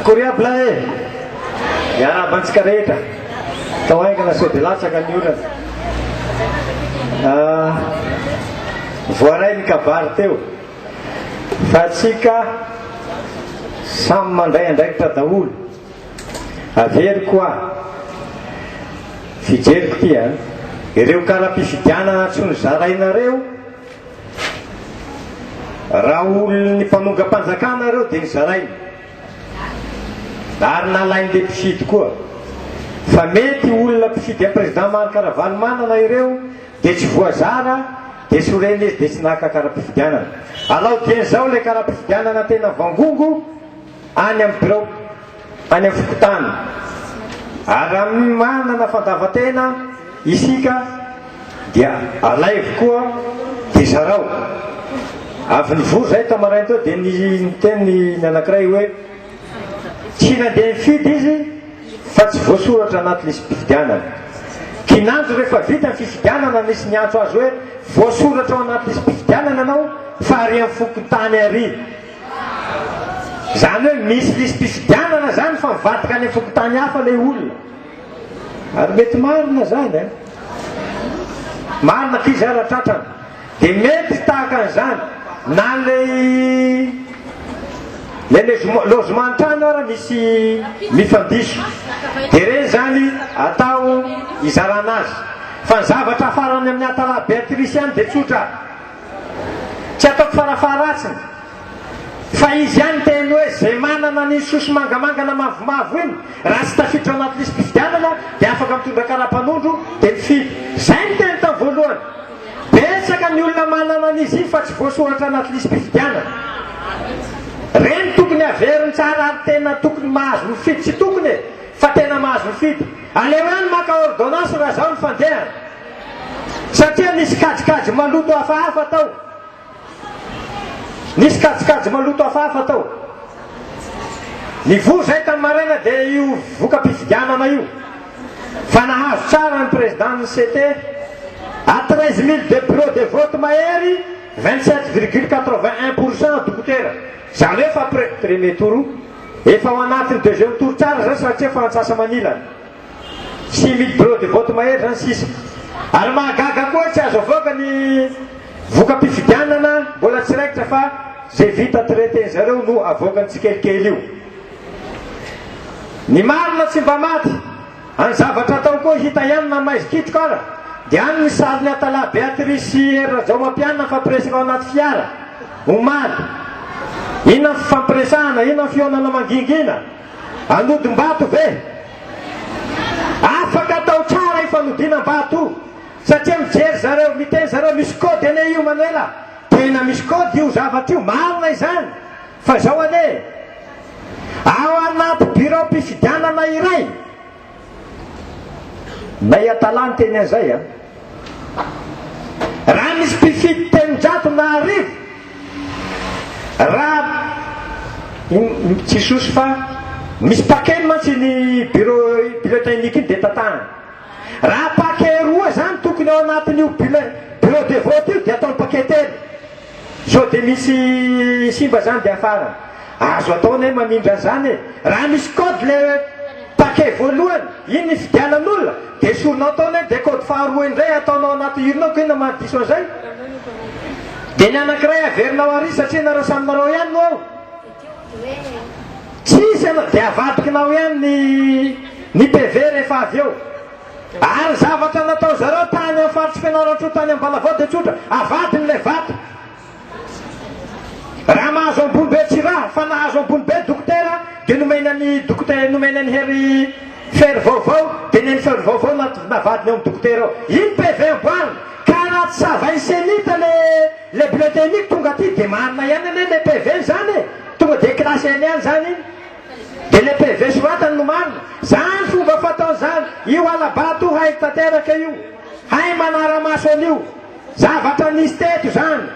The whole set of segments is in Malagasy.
Koriabla e! Miarahaba antsika rehetra. Tao haingana sao dia latsaka ny orana. Ah, voaray ny kabary teo. Fa atsika samy mandray andraikitra daholo. Averiko ah. Fijeriko ity ah. Ireo kara-pifidianana tsy nozarainareo Raha olon'ny mpanongam-panjakana ireo dia zarainy ary nalain'ilay mpifidy koa. Fa mety olona mpifidy an'i Président Marc Ravalomanana ireo dia tsy voazara dia sorena izy dia tsy naka kara-pifidianana. Alao dieny izao ilay kara-pifidianana tena vangongo. Any amin'ny birao, any amin'ny fokontany, ary raha manana fandavan-tena isika dia alaivo koa dia zarao. Avy nivory izahay tao maraina tao dia niteny ny anankiray hoe, tsy nandeha nifidy izy fa tsy voasoratra anaty lisi-pifidianana. Kinanjo rehefa vita ny fifidianana nisy niantso azy hoe, voasoratra ao anaty lisi-pifidianana ianao fa ary amin'ny fokontany ary. Zany hoe misy lisi-pifidianana zany fa mivadika any fokontany hafa le olona. Ary mety marina zany an! Marina akia zay raha tratrany. Dia mety tahaka an'izany na lay lay lezoma lozoma an-trano ara misy mifandiso. Dia ireny zany atao izarana azy. Fa ny zavatra hafarany amin'ny Atalahy Beatrice any dia tsotra. Tsy ataoko farafaharatsiny fa izy ihany miteny hoe izay manana ny sosy mangamanga na mavomavo iny raha tsy tafiditra ao anaty lisi-pifidianana dia afaka mitondra karapanondro dia mifidy. Izay no teny tao voalohany. Betsaka ny olona manana an'izy iny fa tsy voasoratra anaty lisi-pifidianana. Ireny tokony haveriny tsara ary tena tokony mahazo mifidy tsy tokony e! fa tena mahazo mifidy. Aleo ihany maka ordonnance raha izao ny fandehany. Satria nisy kajikajy maloto hafahafa tao. Nisy kajikajy maloto hafahafa tao. Nivory izay tamin'ny maraina dia io voka-pifidianana io fa nahazo tsara ny Président ny CT à treize mille de bureau de vote mahery vingt sept virgule quatre vingt un pour cent dokotera izany hoe fa pre premier tour efa ao anatin'ny deuxième tour tsara izay satria fa antsasa-manilany Six mille bro de vote mahery zany sisa. Ary mahagaga koa hoe tsy azo avoaka ny voka-pifidianana mbola tsy raikitra fa ze vita traite zareo no avoakany tsikelikely io. Ny marina tsy mba maty. Any zavatra atao koa hita ihany na maizy kitroka ara dia any ny sarin'i Atalahy Beatrice sy Hery Rajaomampianina mifampiresaka ao anaty fiara omaly. Inona ny fifampiresahana, inona ny fihaonana mangingina. Anodim-bato ve? Afaka atao tsara io fanodinam-bato io satria mijery zareo, miteny zareo misy code anie io Manuela, tena misy code io zavatra io, marina izany fa izao anie, ao anaty biraom-pifidianana iray, Nay atala ny teny azay a! Raha misy mpifidy telonjato na arivo raha tsy sosy fa misy paquet mantsy iny bureau bulletin unique iny dia tatahana. Raha paquet roa izany tokony ao anatin'io bureau de vote io dia ataony paquet telo. Sao dia misy simba zany dia afara? Azo atao anie mamindra an'izany e! Raha misy code le paquet voalohany, iny nifidianan'olona, dia esorinao tao anie dia code faharoa indray ataonao anaty urne ko inona maha diso an'izay? Dia ny anankiray averinao ary satria nareo samy narao ihany no ao? Tsisy anao dia avadikinao ihany ny ny PV rehefa avy eo. Ary zavatra natao zareo tany amin'ny faritry Fianarantsoa tany Ambalavao dia tsotra, avadiny ilay vato. Raha mahazo ambony be tsy raha fa nahazo ambony be dokotera dia nomena an'i dokotera nomena an'i Hery Ferry vaovao dia ny an'i Ferry vaovao navadiny ao amin'ny dokotera ao. Iny PV amboarina ka raha tsy savain'ny cenit le le bulletin unique tonga aty dia marina ihany anie le PV zany e! Tonga dia classe eny ihany zany iny. Dia le PV soratany no marina. Zany fomba fatao zany. Io halabato hay tanteraka io. Hay manaramaso an'io. Zavatra nisy teto zany.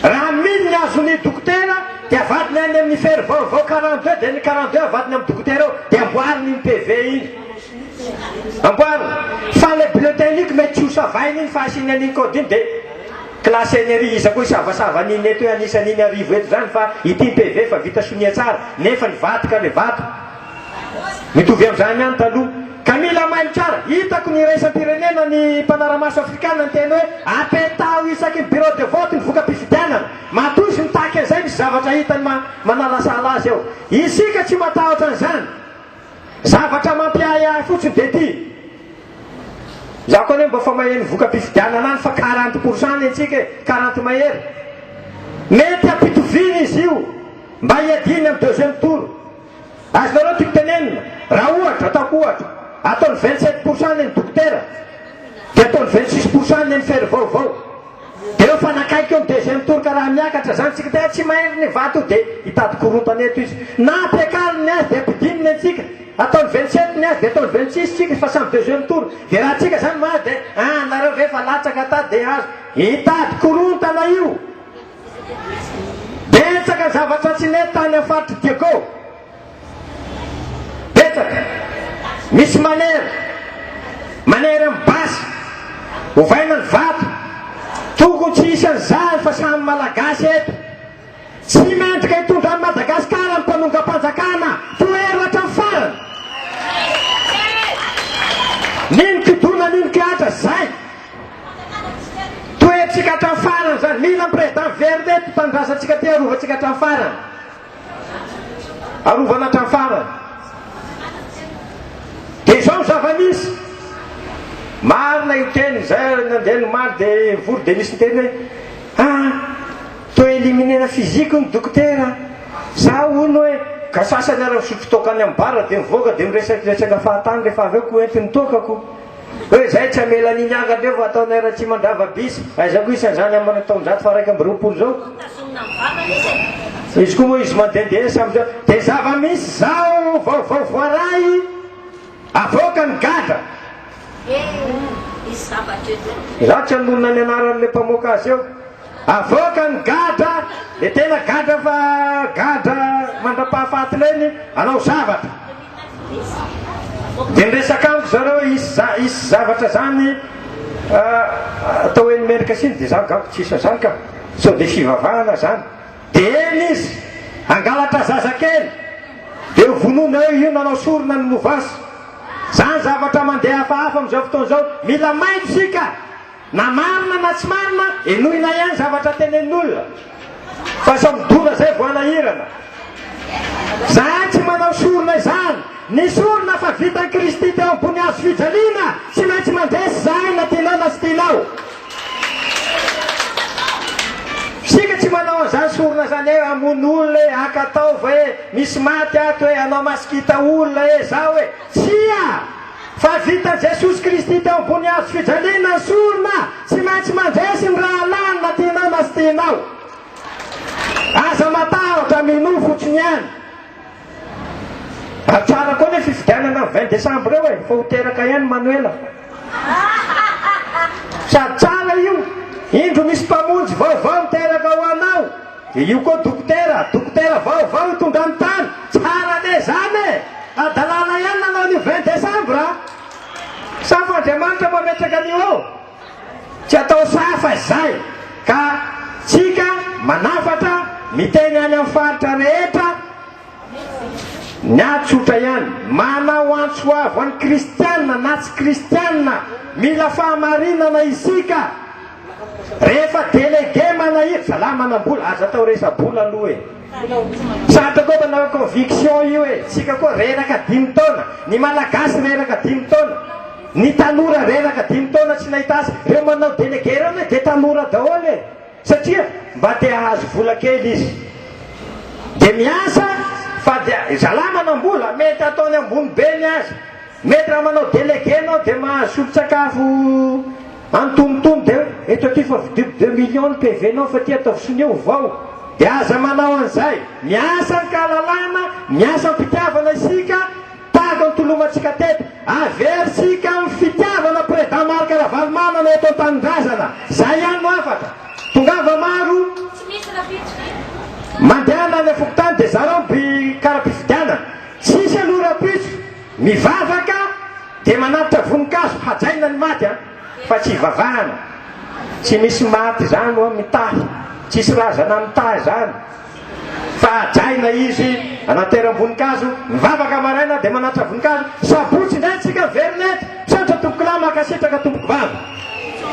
Raha mino ny azon'ny dokotera dia vadiny any amin'ny fery vaovao quarante deux dia ny quarante deux avadiny amin'ny dokotera ao dia amboariny iny PV iny. Amboariny. Fa le bleu teint iniky mety tsy ho savainy iny fa asiany an'iny code iny dia. Classe enerie iza koa hisavasava an'iny eto hoe an'isa an'iny arivo eto zany fa ity ny PV fa vita sonia tsara nefa nivadika le vato mitovy amzany ihany taloha ka mila mailo tsara hitako ny iraisam-pirenena ny mpanaramaso afrikana niteny hoe apetaho isaky ny bureau de vote ny voka-pifidianana matoa izy mitaky an'izay misy zavatra hitany manalasala azy eo isika tsy matahotra an'izany Zavatra mampiahy ahy fotsiny dia ity, izaho koa anie mba efa maheno voka-pifidianana any fa quarante pour cent ny antsika e, quarante mahery. Mety hampitoviana izy io mba hiadiany amin'ny deuxième tour. Azonareo tiako tenenina, raha ohatra, ataoko ohatra, ataony vingt sept pour cent ny an'i Dokotera dia ataony vingt six pour cent ny an'i Ferry vaovao. Efa nakaiky ny deuxième tour ka raha miakatra zany tsika tena tsy mahendry ny vato de hitady korontana eto izy. Na ampiakariny ny azy de ampidininy antsika. Ataony vingt sept ny azy de ataony vingt six tsika fa samy deuxième tour. De raha tsika zany mahazo de ah nareo ve efa latsaka tato de hazo. Hitady korontana io. Betsaka ny zavatra tsy nety tany am faritry Diego. Betsaka. Misy manera. Manera amin'ny basy. Ovaina ny vato. Tokony tsy hisy an'izany fa samy Malagasy eto. Tsy mendrika hitondra an'i Madagasikara ny mpanongam-panjakana tohero hatramin'ny farany. Nino kidona nino kihatra izay. Toherintsika hatramin'ny farany izany. Mila ny Président Vernet eto, tanindrazantsika aty, arovantsika hatramin'ny farany. Arovana hatramin'ny farany. Dia izao ny zava-nisy, marina io teny, izay nandeha nomaly dia nivory dia nisy niteny hoe, ah, toa éliminer-na physique ny dokotera a! Za hono hoe, ka sasany ary misotro toaka any amin'ny bar dia mivoaka dia miresadresaka fahatany rehefa avy eo ko ento ny toakako. Hoe izay tsy hamela an'iny angadreo fa ataonay Ratsimandrava bis. Aiza koa isan'izany amina taonjato faharaika amby roapolo izao? Izy koa moa izy mandehandeha samy zao. Dia zava-misy izao vaovao voaray, avoaka ny gadra. Izaho tsy hanonona ny anaran'ilay mpamoaka azy eo. Avoaka ny gadra, dia tena gadra fa gadra mandra-pahafatinay ny hanao zavatra. Dia miresaka amiko zareo hisy za hisy zavatra zany atao hoe ny mendrika siny dia za angamba tsisy an'zany ka! sao dia fivavahana zany! dia eny izy hangalatra zazakely dia ho vonoina eo io nanao sorona ny mouvance! zany zavatra mandeha hafahafa amin'izao fotoana izao! mila mailo isika! Na marina na tsy marina, henoina ihany zavatra tenenin'olona fa sao midona zay vao hanahirana. Zahay tsy manao sorona izany. Ny sorona fa vitan'i Kristy teo ambony hazo fijaliana tsy maintsy mandresy zahay na tianao na tsy tianao. Isika tsy manao an'izany sorona izany hoe hamono olona e, haka taova e, misy maty ato e, hanao masikita olona e, zao e. Tsia! Fa vita Jesosy Kristy teo ambony hazo fijaliana ny sorona, tsy maintsy mandresy ny rahalahiny na tianao na tsy tianao. Aza matahotra, minoa fotsiny ihany. Ary tsara koa ny fifidianana ny vingt décembre eo e, fa ho teraka ihany Manoela. Sady tsara io, indro misy mpamonjy vaovao miteraka ho anao. Dia io koa dokotera, dokotera vaovao no tonga amin'ny tany, tsara anie izany e! Hadalana ihany nanao an'io vingt décembre a! Safa Andriamanitra mametraka an'io eo, tsy atao safa izay, ka tsika manafatra miteny any amin'ny faritra rehetra ny ahy tsotra ihany, manao antso avo an'ny kristiana na tsy kristiana, mila fahamarinana isika, Rehefa délégué manahirr zalahy manambola aza atao resa-bola aloha e! Sarotra koa manao conviction io e! Tsika koa reraka dimy taona, ny malagasy reraka dimy taona, ny tanora reraka dimy taona tsy nahita asa, reo manao délégué reo anie de tanora daholo e! Satria mba te hahazo vola kely izy de miasa fa dia zalahy manambola mety ataony ambony be ny azy, mety raha manao délégué enao de mahazo solon-tsakafo Antonontono dia eto aty fa vidiako deux millions ny PV nao fa ty ataovy sonia ho vao. Dia aza manao an'izay. Miasa an-kalalana, miasa am-pitiavana isika, tahaka ny tolomantsika teto. Aversika amin'ny fitiavana Président Marc Ravalomanana eto an-tanindrazana. Izay ihany no hafatra. Tongava maro. Tsy misy rahampitso ve? Mandehana any an-fokontany dia zarao by kara-pifidianana. Tsisy aloha rahampitso. Mivavaka dia manatitra voninkazo hajaina ny maty an! fa tsy ivavahana! tsy misy maty zany oa mitahy! tsisy razana mitahy zany fa hajaina izy anateram-boninkazo! mivavaka maraina dia manatitra voninkazo! sabotsy indray tsika very net! misaotra tompokolahy mankasitraka tompoko vavy.